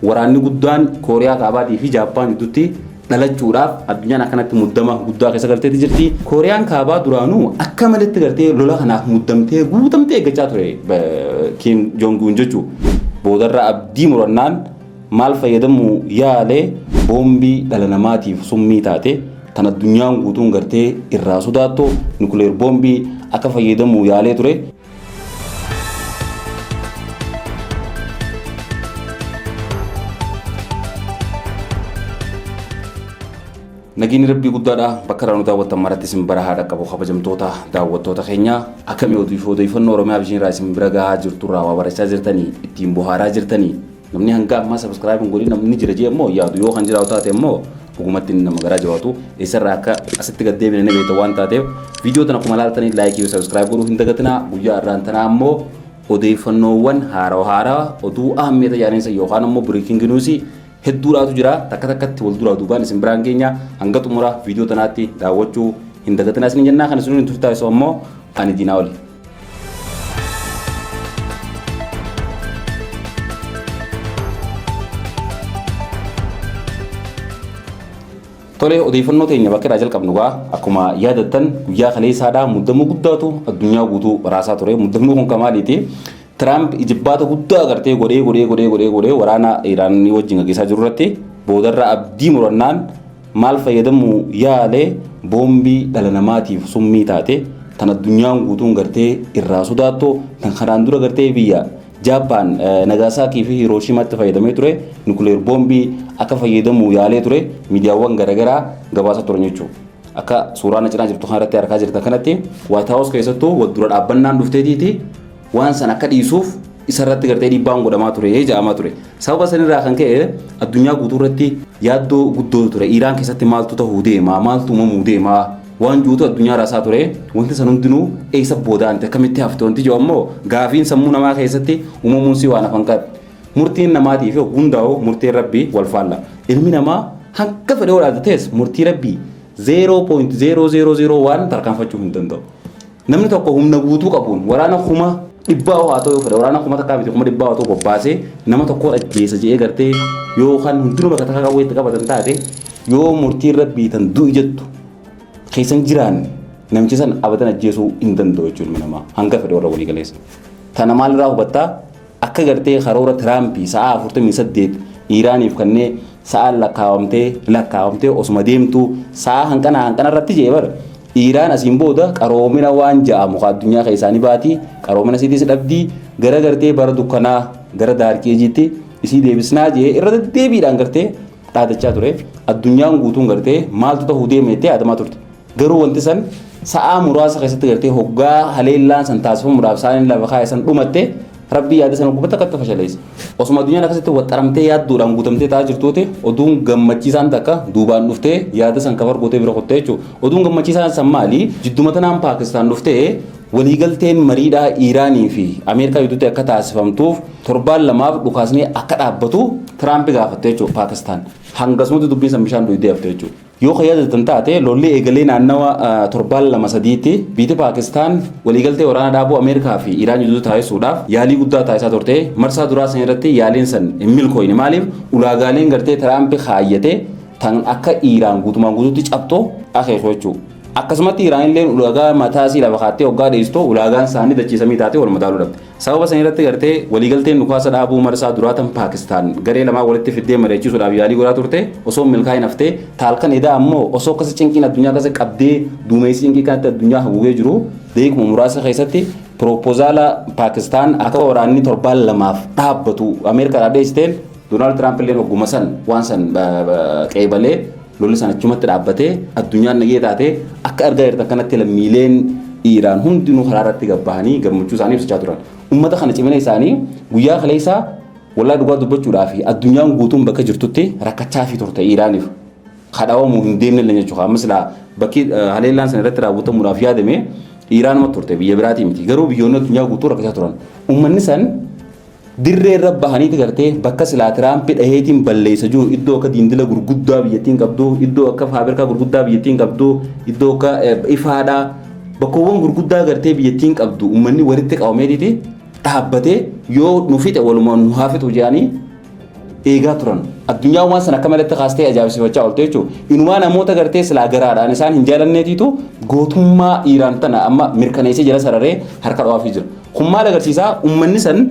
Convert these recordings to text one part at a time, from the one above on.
Waraanni guddaan Kooriyaa Kaabaatii fi Jaappaan gidduutti dhalachuudhaaf addunyaan akkanatti muddama guddaa keessa galteetti jirti. Kooriyaan Kaabaa duraanuu akka maletti gartee lola kanaaf muddamtee guutamtee eeggachaa ture Kiim Joong Un jechuu. Boodarra abdii murannaan maal fayyadamuu yaale boombii dhala namaatiif summii taate tan addunyaan guutuun gartee irraa sodaattu nukileer boombii akka fayyadamuu yaalee ture. Nageenyi rabbii guddaadha bakka irraa nu daawwattan maratti isin bara haa dhaqqabu kabajamtoota daawwattoota keenya akkamii odeeffannoo Oromiyaa bishaan irraa isin bira gahaa jirturraa waa barachaa jirtanii ittiin bohaaraa jirtanii Namni hanga ammaa subscribe hin godhin namni jira jee immoo yaadu yoo kan jiraatu taate immoo dhugumatti inni nama garaa jabaatu eessarraa akka asitti gad deebine ni beekta waan taateef viidiyoo tana akkuma ilaaltanii laayikii fi subscribe godhuu hin dagatinaa guyyaa irraan tanaa immoo odeeffannoowwan haarawa haarawa oduu aammee tajaajilisa yookaan immoo breaking news hedduudhaatu jira takka takkatti wal duraa duubaan isin biraan keenya hanga xumura viidiyoo tanaatti daawwachuu hin dagatinaa isin jennaa kan isin hin turtaa'isu ammoo ani diinaa oli. Tolee odeeffannoo teenya bakka irraa jalqabnu gaa akkuma yaadattan guyyaa kaleessaadhaa muddamuu guddaatu addunyaa guutuu raasaa ture muddamuu kun kan maaliiti Tiraamp ijibbaata guddaa agartee godhee godhee godhee godhee godhee waraana Iraanii wajjin gaggeessaa jiru irratti boodarraa abdii murannaan maal fayyadamuu yaale boombii dhala namaatiif summii taate tan addunyaan guutuun gartee irraa sodaattu tan kanaan dura gartee biyya Jaappaan Nagaasaakii fi Hirooshimaatti fayyadamee ture nukuleer boombii akka fayyadamuu yaalee ture miidiyaawwan garaagaraa gabaasaa turan jechuudha. Akka suuraa na cinaa jirtu kanarratti argaa jirtan kanatti Waayit Haawus keessattuu wal dura dhaabbannaan dhufteetiiti waan san akka dhiisuuf isarratti gartee dhiibbaan godhamaa ture jedhamaa ture. Sababa sanirraa kan ka'e addunyaa guutuu irratti yaaddoo guddoo ture. Iiraan keessatti maaltu ta'uu deema, maaltu uumamuu deema waan juutu addunyaa raasaa ture. Wanti san hundinuu eessa boodaanti akkamitti hafte wanti jiru ammoo gaafiin sammuu namaa keessatti uumamuun si waan hafan qabu. Murtiin namaatii fi hundaa'u murtiin rabbii wal faalla. Ilmi namaa hanga fedhe olaantatees murtii rabbii 0.0001 tarkaanfachuu hin danda'u. Namni tokko humna guutuu qabuun waraana kuma dhibbaa haa ta'u yoo fedhe waraana kuma takkaa miti kuma dhibbaa haa ta'u bobbaasee nama tokkoon ajjeesa jedhee gartee yoo kan hundinuu bakka takka qawwee itti qabatan taate yoo murtiin rabbii tan du'i jettu keessan jiraanne namicha san abadan ajjeesuu hin danda'u jechuun ilma namaa hanga fedhe warra walii galeessa. Tana maalirraa hubattaa? Akka gartee karoora Tiraampi sa'aa 48 Iiraaniif kannee sa'aan lakkaawamtee lakkaawamtee osuma deemtuu sa'aa hanqana hanqana irratti jee bar Iiraan asiin booda qaroomina waan ja'amu ka addunyaa keessaanii baatii qaroomina isiitiis dhabdii gara gartee bara dukkanaa gara daarkii ejiitti isii deebisnaa jee irra deddeebiidhaan gartee dhaadachaa ture. Addunyaan guutuun gartee maaltu ta'uu deema jettee yaadamaa turte. Garuu wanti san sa'aa muraasa keessatti gartee hoggaa haleellaan san taasifamuudhaaf saaniin lafa kaa'e san dhumatte rabbii yaada sana gubbatti akkatti fashaleessa. Osuma addunyaan akkasitti waxxaramtee yaadduudhaan guutamtee ta'aa jirtuuti oduun gammachiisaan takka duubaan dhuftee yaada san kafar gootee bira kuttee jechuudha. Oduun gammachiisaan san maali? Jidduma tanaan Paakistaan dhuftee Waliigalteen mariidhaa Iiraanii fi Ameerikaa gidduutti akka taasifamtuuf torbaan lamaaf dhukaasni akka dhaabbatu Tiraampi gaafatte jechuudha Paakistaan. Hangasumatti dubbiin san bishaan dhuydee hafte jechuudha. Yoo kan yaadattan taate lolli eegalee naannawa torbaan lama sadiitti biyyi Paakistaan waliigaltee waraana dhaabuu Ameerikaa fi Iiraan gidduutti taasisuudhaaf yaalii guddaa taasisaa turte. Marsaa duraa san irratti yaaliin san hin milkooyne. Maaliif ulaagaaleen gartee Tiraampi kaayyate tan akka Iiraan guutumaan guutuutti cabxu akeeku jechuudha. Akkasumatti Iraanilleen ulaagaa mataa isii lafa kaattee hoggaa dheessu ulaagaan isaanii dachii samii taatee wal madaaluu dhabde. Sababa san irratti gartee waliigalteen dhukaasa dhaabuu marsaa duraa tan Paakistaan garee lamaa walitti fiddee mari'achiisuudhaaf yaalii godhaa turte osoo hin milkaa'in haftee taalkan edaa ammoo osoo akkasi cinqiin addunyaa akkasi qabdee duumessi cinqii kanatti addunyaa haguugee jiru deekuma muraasa keessatti piroopozaala Paakistaan akka waraanni torbaan lamaaf dhaabbatu Ameerikaadhaa dheessiteen Doonaald Tiraamp illee hogguma san waan san qeebalee Lolli sana achumatti dhaabbatee addunyaan nagee taatee akka argaa jirtan kanatti lammiileen Iiraan hundinuu karaa irratti gabbahanii gammachuu isaanii ibsachaa turan. Uummata kana cimina isaanii guyyaa kaleessaa wallaa dhugaa dubbachuudhaa fi addunyaan guutuun bakka jirtutti rakkachaa fi turte Iiraaniif. Kadhaawamuu hin deemne illee jechuudha. Ammas laa bakki haleellaan sana irratti raawwatamuudhaaf yaadame Iiraanuma turte biyya biraatii miti. Garuu biyyoonni addunyaa guutuu rakkachaa turan. Uummanni san Dirree irra bahaniiti gartee bakka silaa Tiraampi dhaheetiin balleessa jiru iddoo akka diindila gurguddaa biyyattiin qabdu, iddoo akka faabirkaa gurguddaa biyyattiin qabdu, iddoo akka ifaadhaa bakkoowwan gurguddaa gartee biyyattiin qabdu uummanni walitti qabameetiiti dhaabbatee yoo nu fixe walumaan nu haa fixu jedhanii eegaa turan. Addunyaan waan sana akka malatti kaastee ajaa'ibsiifachaa oolte jechuudha. Inumaa namoota gartee silaa garaadhaan isaan hin jaalanneetiitu gootummaa Iiraan tana amma mirkaneessee jala sararee harka dhawaafii jira. Kun maal agarsiisaa uummanni san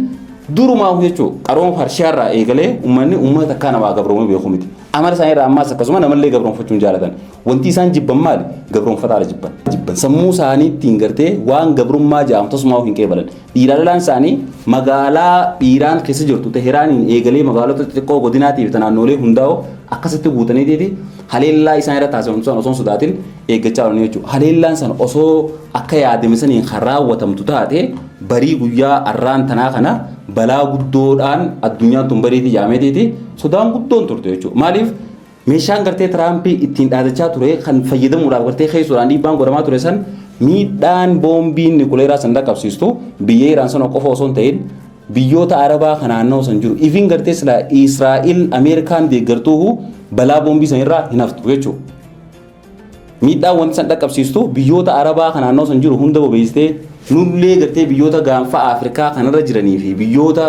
durumaa jechuudha. Qarooma Farshiyaarraa eegalee uummanni uummata takkaa namaa gabroomuu beeku miti. Amala isaanii irraa ammaas akkasuma namallee gabroomfachuu hin jaalatan. Wanti isaan jibban maali? Gabroomfataadha jibban. Jibban sammuu isaaniittiin gartee waan gabrummaa ja'amu tasumaa hin qeebalan. Dhiiraa lolaan isaanii magaalaa Iiraan keessa jirtu Teheraaniin eegalee magaalota xixiqqoo godinaatii fi naannoolee hundaa'oo akkasitti guutaniitiiti haleellaa isaan irra taasifamu sana osoo hin sodaatin eeggachaa oolanii jechuudha. Haleellaan sana osoo akka yaadame saniin kan raawwatamtu taate barii guyyaa arraan tanaa kana balaa guddoodhaan addunyaan tun bariitii jaameetiiti sodaan guddoon turte jechuudha. Maaliif Meeshaan gartee Tiraamp ittiin dhaadachaa ture kan fayyadamuudhaaf gartee keessuudhaan dhiibbaan godhamaa ture san miidhaan boombiin nikuleeraa san dhaqqabsiistu biyya Iraan sana qofa osoo hin ta'in biyyoota Arabaa kan naannoo san jiru. Ifiin gartee silaa Israa'il Ameerikaan deeggartuuhu balaa boombii san irraa hin haftu jechuudha. Miidhaan wanti san dhaqqabsiistu biyyoota Arabaa kan naannoo san jiru hunda bobeessitee nullee gartee biyyoota gaanfa Afrikaa kanarra jiranii fi biyyoota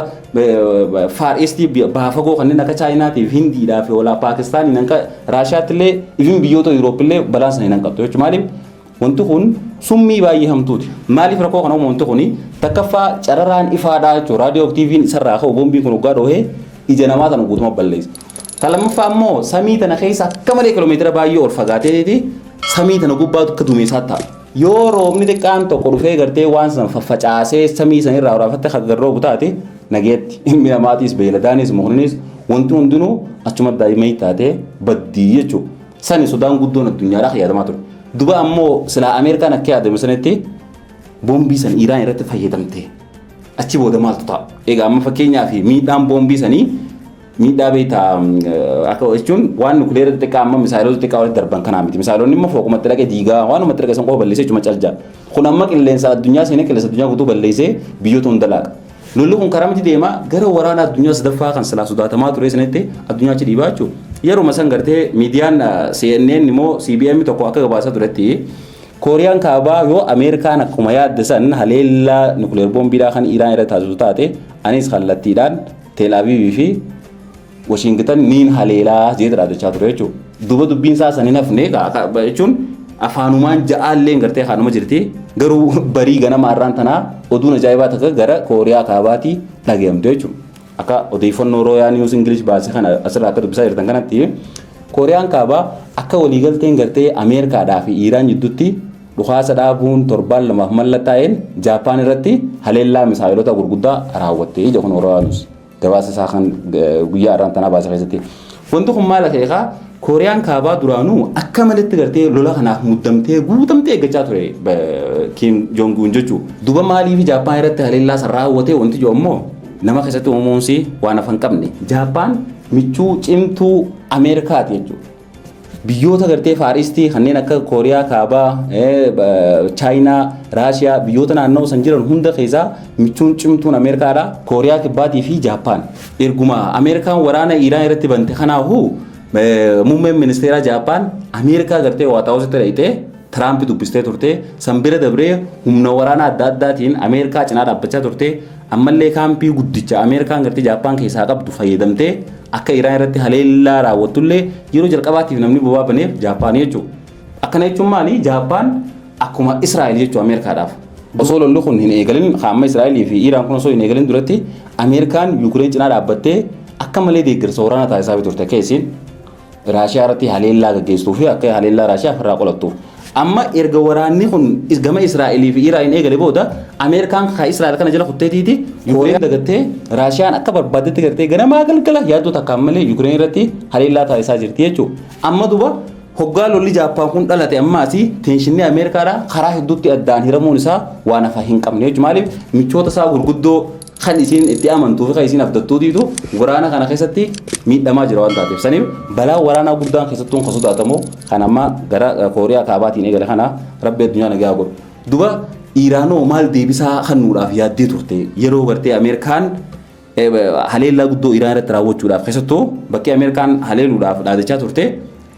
Faar Eestii baafagoo kanneen akka Chaayinaatii fi Hindiidhaa fi walaa Paakistaaniin akka Raashiyaattillee ifin biyyoota Yuuroopillee balaan sana hin hanqattu jechuudha. Maaliif wanti kun summii baay'ee hamtuuti. Maaliif rakkoo kana uumu wanti kun takkaffaa cararaan ifaadhaa jechuudha. Raadiyoo fi TV'n isarraa ka'u boombiin kun hoggaa dhoohee ija namaa sana guutuma balleessa. Kan lammaffaa immoo samii tana keessa akka malee kiiloomeetira baay'ee ol fagaateeti samii tana gubbaatu akka duumessaa ta'a. Yoo roobni xiqqaan tokko dhufee gartee waan sana faffacaasee samii sana irraa waraafattee kan gad roobu taate nageetti ilmi namaatiis beeyladaanis mukninis wanti hundinuu achuma daa'imman taatee baddii jechuudha. Sani sodaan guddoon addunyaadhaa kan yaadamaa ture. Duba ammoo silaa Ameerikaan akka yaadame sanitti boombii san Iraan irratti fayyadamte. Achi booda maaltu ta'a? Egaa amma fakkeenyaaf miidhaan boombii sanii Miidhaa beektaa akka jechuun waan nukileera xixiqqaa amma misaayilota xixiqqaa walitti darban kanaa miti. Misaayilonni immoo fooqumatti dhaqee diigaa waanumatti dhaqee san qofa balleessee jechuma caljaa. Kun amma qilleensa addunyaa seenee qilleensa addunyaa guutuu balleessee biyyoota hunda laaqa. Lolli kun karaa miti deema gara waraana addunyaa sadaffaa kan silaa sodaatamaa ture sanitti addunyaa achi dhiibaa jechuudha. Yeruma san gartee miidiyaan CNN immoo CBM tokko akka gabaasaa turetti Kooriyaan kaabaa yoo Ameerikaan akkuma yaadde san haleellaa nukileer boombiidhaa kan Iraan irra taasisu taate anis kallattiidhaan Tel Aviv fi Washington niin haleelaa jeet raajachaa ture jechuudha. Duuba dubbiin isaa san hin hafne jechuun afaanumaan ja'aallee gartee kaanuma jirti. Garuu barii ganama har'aan tanaa oduun ajaa'ibaa takka gara Kooriyaa Kaabaatii dhagayamte jechuudha. Akka odeeffannoo Rooyaa Niiwus Ingilish baase kana asirraa akka dubbisaa jirtan kanatti Kooriyaan Kaabaa akka waliigalteen gartee Ameerikaadhaa fi Iiraan jidduutti Dhukaasa dhaabuun torbaan lamaaf mallattaa'een Jaappaan irratti haleellaa misaa'elota gurguddaa raawwatte ija kun Oraanuus gabaasa isaa kan guyyaa irraan tanaa baase keessatti. Wanti kun maal akeekaa Kooriyaan kaabaa duraanuu akka malitti gartee lola kanaaf muddamtee guutamtee eeggachaa ture Kiim Joong Un jechuudha. Duba maaliif Jaappaan irratti haleellaa san raawwate wanti jiru immoo nama keessatti uumuunsi waan afan qabne. Jaappaan michuu cimtuu Ameerikaati jechuudha. Biyyoota gartee faaristii kanneen akka Kooriyaa Kaabaa, Chaayinaa, Raashiyaa biyyoota naannoo san jiran hunda keessaa michuun cimtuun Ameerikaadha. Kooriyaa Kibbaatii fi Jaappaan. Erguma Ameerikaan waraana Iiraan irratti bante kanaafuu muummeen ministeeraa Jaappaan Ameerikaa gartee Waataawusitti dhaqxee Tiraamp dubbistee turte. San bira dabree humna waraanaa adda addaatiin Ameerikaa cinaa dhaabbachaa turte. Ammallee kaampii guddicha Ameerikaan gartee Jaappaan keessaa qabdu fayyadamtee akka Iraan irratti haleellaa raawwattullee yeroo jalqabaatiif namni bobaa baneef Jaappaan jechuudha. Akkana jechuun maali? Jaappaan akkuma Israa'el jechuudha Ameerikaadhaaf. Osoo lolli kun hin eegalin amma Israa'elii fi Iraan kun osoo hin eegalin duratti Ameerikaan Yuukireen cinaa dhaabbattee akka malee deeggarsa waraanaa taasisaa turte akka isiin Raashiyaa irratti haleellaa gaggeessuu fi akka haleellaa Raashiyaa ofirraa qolattuuf. Amma erga waraanni kun is- gama Israa'elii fi Iraan eegale booda Ameerikaan ka Israa'el kana jala kutteetiiti Yukireen dagattee Raashiyaan akka barbaaddetti gartee ganamaa galgala yaaddoo takkaan malee Yukireen irratti haleellaa taasisaa jirti jechuudha. Amma duba hoggaa lolli Jaappaan kun dhalate ammaasi teenshinni Ameerikaadhaa karaa hedduutti addaan hiramuun isaa waan hafa hin qabne jechuudha. Maaliif michoota isaa gurguddoo kan isiin itti amantuu fi kan isiin abdattuutiitu waraana kana keessatti miidhamaa jira waan taateef saniif balaa waraanaa guddaan keessattuun kan sodaatamu kan amma gara kooriyaa kaabaatiin eegale kana rabbi addunyaa nagaa godhu duba iiraanoo maal deebisaa kennuudhaaf yaaddee turte yeroo gartee ameerikaan haleellaa guddoo iiraan irratti raawwachuudhaaf keessattuu bakkee ameerikaan haleeluudhaaf dhaadachaa turte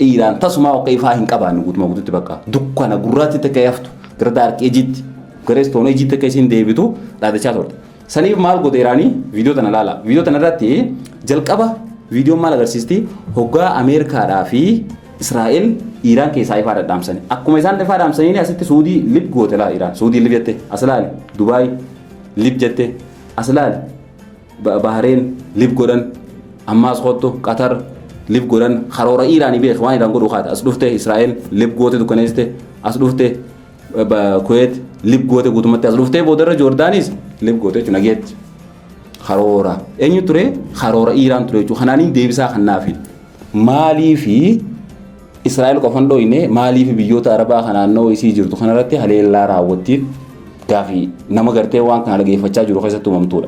Iiraan tasumaa oka ifaa hin qabaanne guutumaa guututti bakka dukkana gurraatti akka haftu gara daarkii ejiitti gara istoon ejiitti akka isiin deebitu dhaadachaa turte. Saniif maal godhe Iraanii viidiyoo tana ilaala. Viidiyoo tana irratti jalqaba viidiyoon maal agarsiisti hoggaa Ameerikaadhaa fi Israa'el Iiraan keessaa ifaa dhadhaamsani. Akkuma isaan ifaa dhaamsaniin asitti Suudii lib goote laa Iiraan. Suudii lib jette as ilaali. Dubaay lib jette as ilaali. Bahareen live godhan ammaas kottu Qatar live godhan karoora Iiraanii beek waan Iiraan godhu kaata as dhufte Israa'el live goote dukkaneessite as dhufte Kuweet live goote guutumatti as dhuftee boodarra Joordaanis live goote jechuudha nageetti. Karoora eenyu ture karoora Iiraan ture jechuudha kanaaniin deebisaa kan naafi maaliifi Israa'el qofa hin dhooyne maaliif biyyoota Arabaa kan naannoo isii jirtu kanarratti haleellaa raawwattiif gaafii nama gartee waan kana dhageeffachaa jiru keessatti uumamtuudha.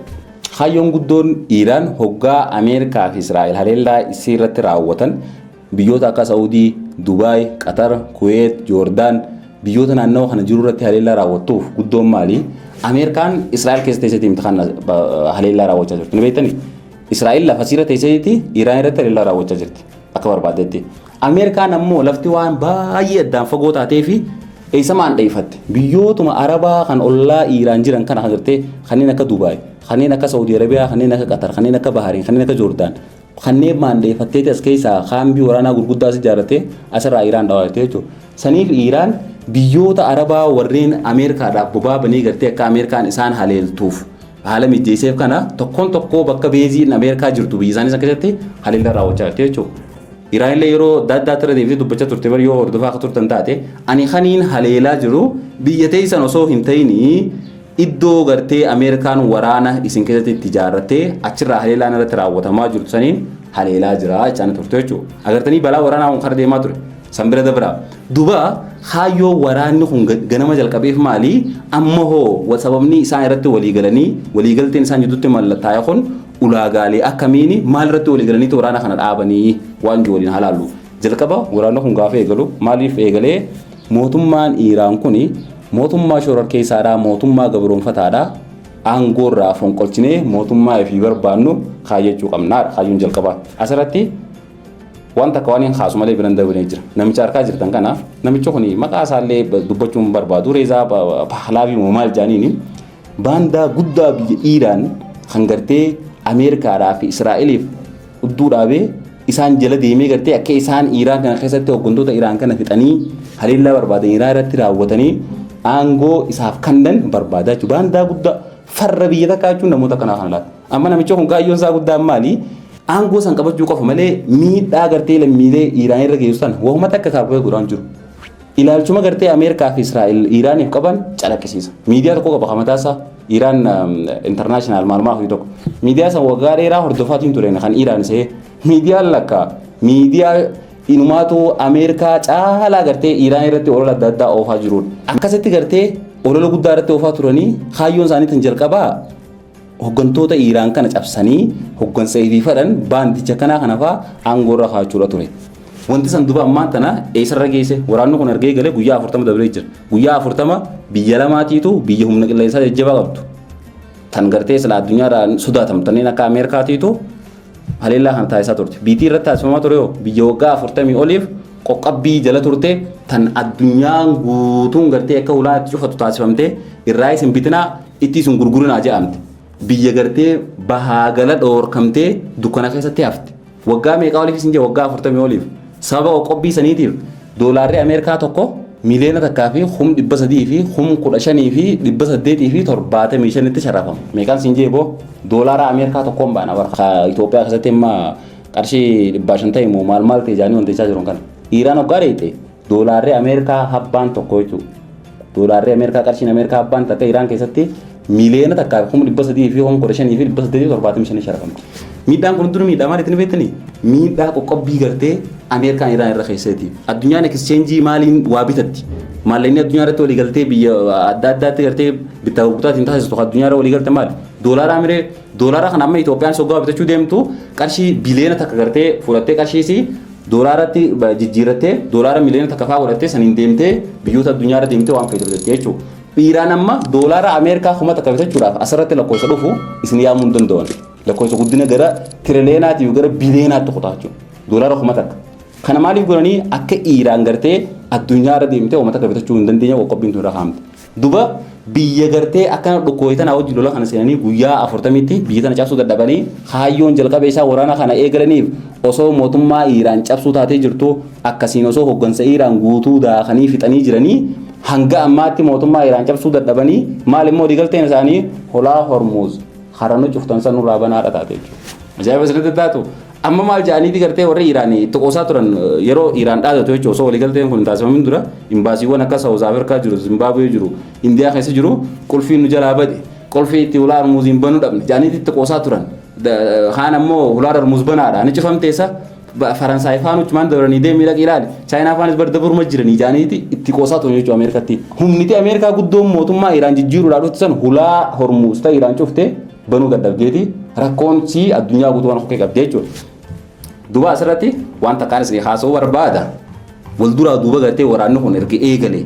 Kaayyoon guddoon Iiraan hoggaa Ameerikaa fi Israa'el haleellaa isii irratti raawwatan biyyoota akka Saawudii, Dubaay, Qatar, Kuweet, Joordaan biyyoota naannawa kana jiru irratti haleellaa raawwattuuf guddoon maali? Ameerikaan Israa'el keessa teesseetii miti kan haleellaa raawwachaa jirtu. Ni beektanii? Israa'el lafa siirra teesseetii Iiraan irratti haleellaa raawwachaa jirti. akka barbaadetti. Ameerikaan ammoo lafti waan baay'ee addaan fagoo taatee fi eessamaan dheeffatte. Biyyootuma Arabaa kan ollaa Iiraan jiran kana agartee kanneen akka Dubaay, kanneen akka Saawudii Arabiyaa, kanneen akka Qatar, kanneen akka Bahaariin, kanneen akka Joordaan kanneen maandheeffatteeti as keessaa kaambii waraanaa gurguddaa as ijaarrattee asirraa Iiraan dhawaa jirti jechuudha. Saniif Iiraan biyyoota Arabaa warreen Ameerikaadhaaf bobaa banee gartee akka Ameerikaan isaan haleeltuuf Haala mijeesseef kana tokkoon tokkoo bakka beeziin Ameerikaa jirtu biyya isaanii san keessatti haleellaa raawwachaa jirti jechuudha. Iraan illee yeroo adda addaa irra deebitee dubbachaa turte bari yoo hordofaa akka turtan taate ani kaniin haleelaa jiru biyya teessan osoo hin ta'inii iddoo gartee Ameerikaan waraana isin keessatti itti ijaarrattee achirraa haleelaan irratti raawwatamaa jirtu saniin haleelaa jira jechaan turte jechuudha. Agartanii balaa waraanaa kun kara deemaa ture. San bira dabraa. Duba kaayyoo waraanni kun ga- ganama jalqabeef maali? Amma hoo wa- sababni isaan irratti walii galanii walii galteen isaan jidduutti mallattaa'e kun ulaagaalee akkamiini maal irratti walii galaniitti waraana kana dhaabanii waan jiru waliin halaallu. Jalqaba waraanni kun gaafa eegalu maaliif eegalee mootummaan Iiraan kun mootummaa shororkeessaadhaa mootummaa gabroonfataadhaa aangoo irraa fonqolchinee mootummaa ifii barbaannu kaayyachuu qabnaadha kaayyoon jalqabaa. Asirratti Waan takka waan hin kaasu malee biran dabalee jira. Namicha harkaa jirtan kana namichi kun maqaa isaallee dubbachuu hin barbaadu reezaa pahlaavii moo maal jaaniini baandaa guddaa biyya Iiraan kan gartee Ameerikaadhaa fi Israa'eliif udduu dhaabee isaan jala deemee gartee akka isaan Iiraan kana keessatti hooggantoota Iiraan kana fixanii haleellaa barbaadan Iiraan irratti raawwatanii aangoo isaaf kannan barbaadaa jechuudha. Baandaa guddaa farra biyya takkaa jechuun namoota kanaa kana laata. Amma namicha kun kaayyoon isaa guddaan maali? Aangoo san qabachuu qofa malee miidhaa gartee lammiilee Iiraan irra geessu sana wahuma takka kaabee godhaan jiru. Ilaalchuma gartee Ameerikaa fi Israa'el Iiraaniif qaban calaqqisiisa. Miidiyaa tokko qaba mataa isaa Iiraan intarnaashinaal maalmaa fi tokko. Miidiyaa san waggaa dheeraa hordofaatiin ture kan Iiraan isee. Miidiyaan lakka miidiyaa inumaatu Ameerikaa caalaa gartee Iiraan irratti olola adda addaa oofaa jirudha. Akkasitti gartee olola guddaa irratti oofaa turanii kaayyoon isaaniitiin jalqabaa Hoggantoota Iiraan kana cabsanii hoggansa ifiif fedhan baandicha kanaa kana fa'aa aangoo irra kaa'achuudha ture. Wanti san duba ammaan tana eessarra geesse waraanni kun argee galee guyyaa afurtama dabree jira. Guyyaa afurtama biyya lamaatiitu biyya humna qilleensaa jajjabaa qabdu. Tan gartee silaa addunyaarraa sodaatamtanneen akka Ameerikaatiitu haleellaa kana taasisaa turte. Biitii irratti taasifamaa ture hoo biyya waggaa 40 oliif qoqqabbii jala turte tan addunyaan guutuun gartee akka hulaa itti cufatu taasifamte irraa isin bitinaa itti isin gurgurinaa jedhamte. Biyya gartee bahaa gala dhoorkamtee dukkana keessatti hafte. Waggaa meeqaa oliif isin jee waggaa 40 oliif. Sababa qoqqobbii saniitiif doolaarri Ameerikaa tokko miiliyoona takkaa fi kum dhibba sadii fi kum kudha shanii fi dhibba saddeetii fi torbaatamii shanitti sharrafama. Meeqaan siin jee boo doolaara Ameerikaa tokkoon baana bara. Ka Itoophiyaa keessatti amma qarshii dhibbaa shan ta'e moo maal maal ta'e jaanii wanteechaa jiruun kana. Iiraan hoggaa dheeyxe doolaarri Ameerikaa habbaan tokko jechuudha. Doolaarri Ameerikaa qarshiin Ameerikaa abbaan takka Iraan keessatti miiliyoona takkaa kuma dhibba sadii fi kuma kudha shanii fi dhibba saddeetii fi torbaatamii shanii sharafamti. Miidhaan kun hundinuu miidhaa maaliitiin beektanii? Miidhaa qoqqobbii gartee Ameerikaan Iraan irra keesseeti. Addunyaan ekscheenjii maaliin waa bitatti? Maallaqni addunyaa irratti waliigaltee biyya adda addaatti gartee bittaa gurgurtaatiin taasistu addunyaa irra waliigalte maali? Doolaara amiree Doolaara kana amma Itoophiyaan soggaa bitachuu deemtu qarshii biliyoona takka gartee fudhattee qarshiisii doolaaratti jijjiirrattee doolaara miliyoona takka fa'aa godhattee saniin deemtee biyyoota addunyaarra deemtee waan feete bitatte jechuudha. Iiraan amma doolaara Ameerikaa kuma takka bitachuudhaaf asirratti lakkoofsa dhufu isin yaamuu hin danda'an. Lakkoofsa guddina gara tiriliyoonaatii gara biliyoonaatti kutaa jechuudha. Doolaara kuma takka. Kana maaliif godhanii akka Iiraan gartee addunyaarra deemtee uummata akka bitachuu hin dandeenye qoqqobbiin tun irra kaa'amte. Duba biyya gartee akkana dhukkooyi tana wajjin lola kana seenanii guyyaa afurtamitti biyya tana cabsuu dadhabanii kaayyoon jalqaba isaa waraana kana eegalaniif osoo mootummaa Iiraan cabsuu taatee jirtu akkasiin osoo hoggansa Iiraan guutuu daakanii fixanii jiranii hanga ammaatti mootummaa Iiraan cabsuu dadhabanii maal immoo waliigalteen isaanii holaa Hormuuz hara nu cuftan san nurraa banaadha taate jechuudha. Ajaa'iba isinitti taatu Amma maal jedhaniiti gartee warri Iraan itti qoosaa turan yeroo Iraan dhaadatu jechuudha osoo waliigalteen kun hin taasifamin dura imbaasiiwwan akka Saawuz Afrikaa jiru, Zimbaabuwee jiru, Indiyaa keessa jiru qulfiin nu jalaa bade qulfii itti hulaa Hormuuziin banuu dhabne jedhaniiti itti qoosaa turan. Kaan ammoo hulaa Hormuuz banaadha ni cufamteessa Faransaay faan uchumaan dabranii deemii dhaqi ilaali Chaayinaa faanis bar dabruma jiranii jedhaniiti itti qoosaa turan jechuudha Ameerikatti. Humniti Ameerikaa guddoon mootummaa Iraan jijjiiruudhaa dhufte san hulaa Hormuuz ta'e Iraan cufte banuu dadhabdeeti rakkoon sii addunyaa guutuu waan okkee qabdee jechuudha. Duuba asirratti waan takkaan isin haasa'uu barbaada. Wal duraa duuba gartee waraanni kun erga eegale.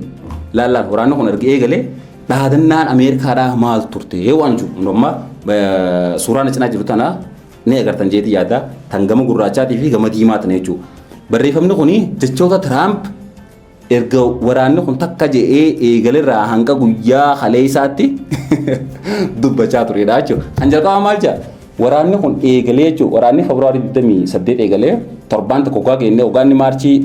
Laallaan waraanni kun erga eegale dhaadannaan Ameerikaadhaa maal turte waan jiru. Amma suuraan cinaa jiru tana ni agartan jeetii yaada tan gama gurraachaatii fi gama diimaa tana jechuudha. Barreeffamni kun jechoota Tiraamp Erga waraanni kun takka je'ee eegalerraa hanga guyyaa kaleessaatti dubbachaa turedha jechuudha. Kan jalqabaa maal jedha? Waraanni kun eegalee jechuudha. Waraanni Febraarii 28 eegalee torbaan tokko gaa geenne waggaanni maarchii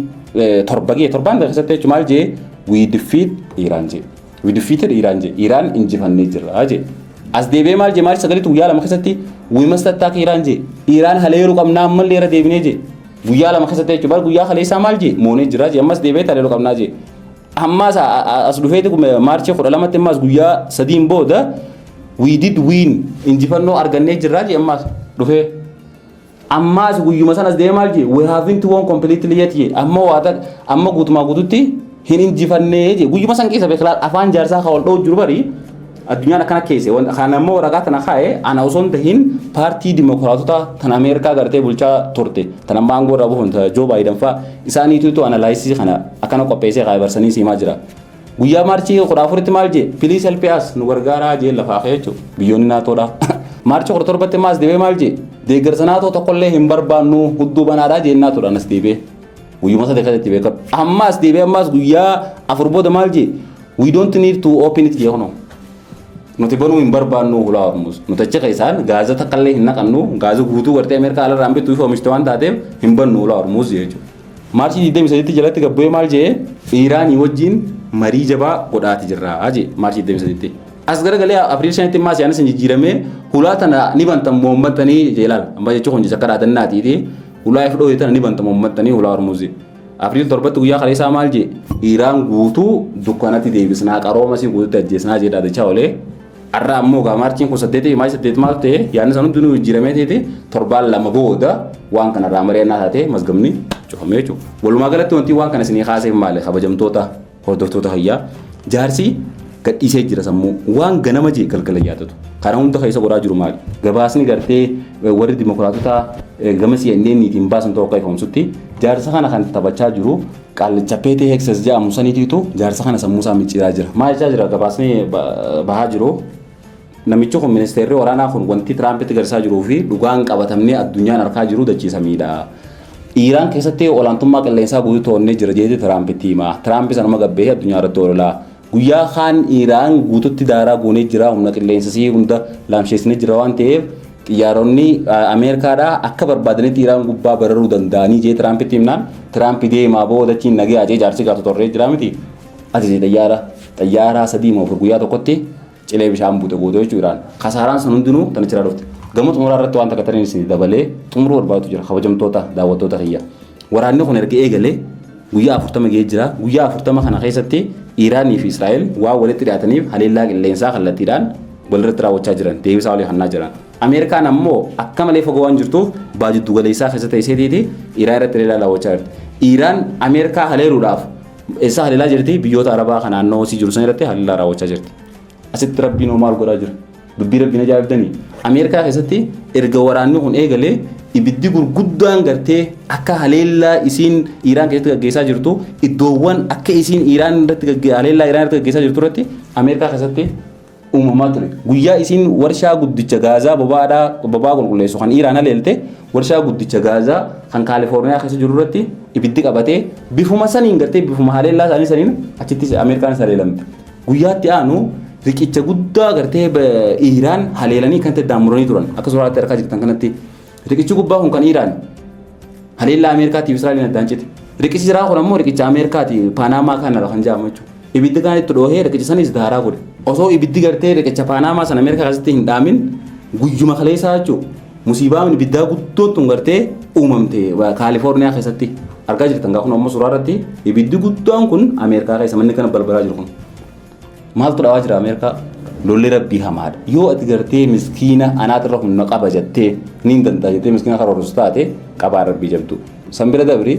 torba gee torbaan tokko keessatti jechuudha maal jee we defeat Iran jee. We defeated Iran jedhe. Iran injifannee jirra jedhe. As deebi'ee maal jedhe Maarch sagalitti guyyaa lama keessatti we must attack Iran jedhe. Iran haleeluu qabnaa ammallee irra deebinee jedhe. Guyyaa lama keessatti jechuudha. Bar guyyaa kaleessaa maal jedhe moonee jirra jedhe. Ammas deebi'ee haleeluu qabnaa jedhe. Ammas as dhufeeti Maarch kudha lamatti ammas guyyaa sadiin booda we did win injifannoo argannee jirra jedhe ammas dhufee. Ammaas guyyuma sanas deemee maal jee we haven't won completely yet jee amma waata amma guutumaa guututti hin injifannee jee guyyuma san keessa beeklaa afaan jaarsaa kan ol dha'u jiru bari addunyaan akkana keesse wanta kan ammoo waraqaa tana kaa'e ana osoo hin tahin paartii dimokiraatota tan Ameerikaa gartee bulchaa turte tan amma aangoo irraa buufamte Joo Baayidan fa'a isaaniitu analaayisii kana akkana qopheessee kaa'e barsanii siimaa jira. Guyyaa maarchii 14tti maal jee piliis helpee as nu gargaaraa jee lafaa kee jechuudha biyyoonni naatoodha. Maarchi 17tti maas deebee maal jee deeggarsa naatoo tokkollee hin barbaannu hudduu banaadhaa jeen naatoodhaan as deebee guyyuma sadii keessatti beekamu. Ammaas deebee ammaas guyyaa afur booda maal jee we don't need to open it jee kunoo. Nuti banuu hin barbaannu hulaa hormuus. Nuti achi keessaan gaaza takkaallee hin naqannu gaaza guutuu gartee Ameerikaa alarraan bittu fi oomishte waan taateef hin bannu hulaa hormuus jechuudha. Maarchii 23tti jalatti gabbu'ee maal jee Iiraanii wajjin marii jabaa godhaati jirraa jee Maarchii 23tti. As garagalee Apriil 5tti immaa siyaanis hin jijjiiramee hulaa tana ni bantan moommattanii jee ilaal. Amma jechuu kun akka dhaadannaatiiti. Hulaa if dhoote tana ni bantan moommattanii hulaa Hormuuzi. Apriil 7tti guyyaa kaleessaa maal jee Iiraan guutuu dukkanatti deebisnaa qaroomasii guututti ajjeesnaa jee dhaadachaa olee. Har'a ammoo egaa maarchiin kun saddeetii maayii saddeet maal ta'e yaadni san hundinuu jijjiiramee ta'eeti torbaan lama booda waan kana irraa mari'annaa taatee mazgamni cufamee jechuudha. Walumaa galatti wanti waan kana isinii kaaseef maali kabajamtoota hordoftoota hayyaa jaarsi gadhiisee jira sammuu waan ganama jee galgala yaadatu kana hunda keessa godhaa jiru maali gabaasni gartee warri dimokiraatotaa gama CNNiitiin baasan tokko akka ifoomsutti jaarsa kana kan taphachaa jiru Qaallicha Peetii Heekses jedhamu saniitiitu jaarsa kana sammuu isaa micciiraa jira. Maal jechaa jira gabaasni bahaa jiru. Namichi kun ministeerri waraanaa kun wanti Tiraampitti garsaa jiruu fi dhugaan qabatamnee addunyaan arkaa jiru dachiisamiidha. Iiraan keessatti olaantummaa qilleensaa guutuu to'annee jira jeetii Tiraampitti hima. Tiraampi sanuma gabbee addunyaa irratti oololaa. Guyyaa kaan Iraan guututti daaraa goonee jira, humna qilleensa isii hunda laamsheessinee jirra waan ta'eef xiyyaaronni Ameerikaadhaa akka barbaadanitti Iraan gubbaa bararuu danda'anii jee Tiraampitti himnaan Tiraampi deemaa boo dachiin nagee ajee jaarsi gaatu torree jira miti. Ajaje xiyyaara xiyyaara sadii moo afur guyyaa tokkotti cilee bishaan buute goote jechuu Iraan. Kasaaraan sun hundinuu tan achirraa dhufte. Gama xumuraa irratti waan takka taniin isin dabalee xumuruu barbaadu jira kabajamtoota daawwattoota kiyya. Waraanni kun erga eegalee guyyaa afurtama ga'ee jira. Guyyaa afurtama kana keessatti Iiraanii fi Israa'el waan walitti dhiyaataniif haleellaa qilleensaa kallattiidhaan walirratti raawwachaa jiran deebisaa walii hannaa jiran. Ameerikaan ammoo akka malee fagoo waan jirtuuf baa jiddu galeessaa keessa teesseetiiti Iiraan irratti haleellaa raawwachaa jirti. Iiraan Ameerikaa haleeluudhaaf eessaa haleelaa jirti biyyoota Arabaa kan naannoo isii jiru san irratti haleellaa raawwachaa jirti. Asitti rabbiin hoo maal godhaa jira? Dubbii rabbiin ajaa'ibdanii. Ameerikaa keessatti erga waraanni kun eegalee ibiddi gurguddaan gartee akka haleellaa isiin Iiraan keessatti gaggeessaa jirtu iddoowwan akka isiin Iiraan irratti haleellaa Iiraan irratti gaggeessaa jirtu irratti Ameerikaa keessatti uumamaa ture. Guyyaa isiin warshaa guddicha gaazaa boba'aadhaa boba'aa qulqulleessu kan Iiraan haleelte warshaa guddicha gaazaa kan Kaalifoorniyaa keessa jiru irratti ibiddi qabatee bifuma saniin gartee bifuma haleellaa isaanii saniin achittis Ameerikaanis haleelamte. Guyyaatti aanu riqicha guddaa gartee Iiraan haleelanii kan ta'e daamuranii turan akka suuraatti harkaa jirtan kanatti Riqichi gubbaa kun kan Iiraan haleellaa Ameerikaatiif Israa'eliin addaan cite. Riqichi jiraa kun ammoo riqicha Ameerikaati Paanaamaa kanarra kan jedhamu jechuudha. Ibiddi kan itti dhoohee riqicha sanis daaraa godhe. Osoo ibiddi gartee riqicha Paanaamaa sana Ameerikaa keessatti hin dhaamin guyyuma kaleessaa jechuudha. Musiibaan ibiddaa guddoo tun gartee uumamte Kaalifoorniyaa keessatti argaa jirtan kun ammoo suuraa irratti ibiddi guddaan kun Ameerikaa keessa manni kana balbalaa jiru kun. Maaltu dhawaa jira Ameerikaa? Lolli rabbii hamaadha. Yoo ati gartee miskiina anaatirra humna qaba jettee niin danda'a jettee miskiina karoorsu taate qabaan rabbii jabdu. San bira dabri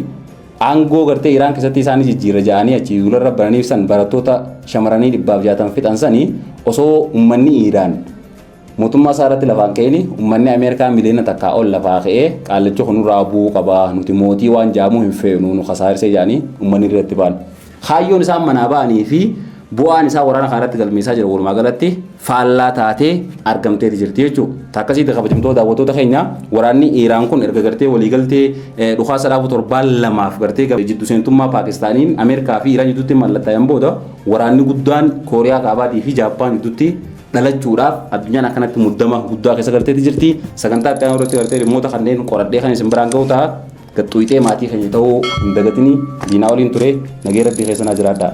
aangoo gartee Iraan keessatti isaan jijjiirra ja'anii achi duularra bananiif san barattoota shamaranii dhibbaaf jaatan fixan sanii osoo ummanni Iraan Mootummaa isaa irratti lafaan ka'ini ummanni Ameerikaa miliyoona takkaa ol lafaa ka'ee qaallichi kun nurraa bu'uu qaba nuti mootii waan jaamuu hin feenu nu kasaarsee jaanii ummanni irratti ba'an. Kaayyoon isaan manaa ba'anii fi bu'aan isaa waraana kana irratti galmeessaa jiru walumaa galatti faallaa taatee argamteeti jirti jechuudha. Takkasiitti kabajamtoo daawwattoota keenya waraanni Iiraan kun erga gartee waliigaltee dhukaasa dhaabuu torbaan lamaaf gartee jiddu seentummaa Paakistaaniin Ameerikaa fi Iiraan jidduutti mallattaa'een booda waraanni guddaan Kooriyaa Kaabaatii fi Jaappaan jidduutti dhalachuudhaaf addunyaan akkanatti muddama guddaa keessa galteetti jirti. Sagantaa itti aanu irratti gartee dhimmoota kanneen qoradhee kan isin biraan ga'u ta'a. Gaxxuuxee maatii keenya ta'uu hin dagatini. Diinaa waliin ture nagee rabbii keessa naa jiraadha.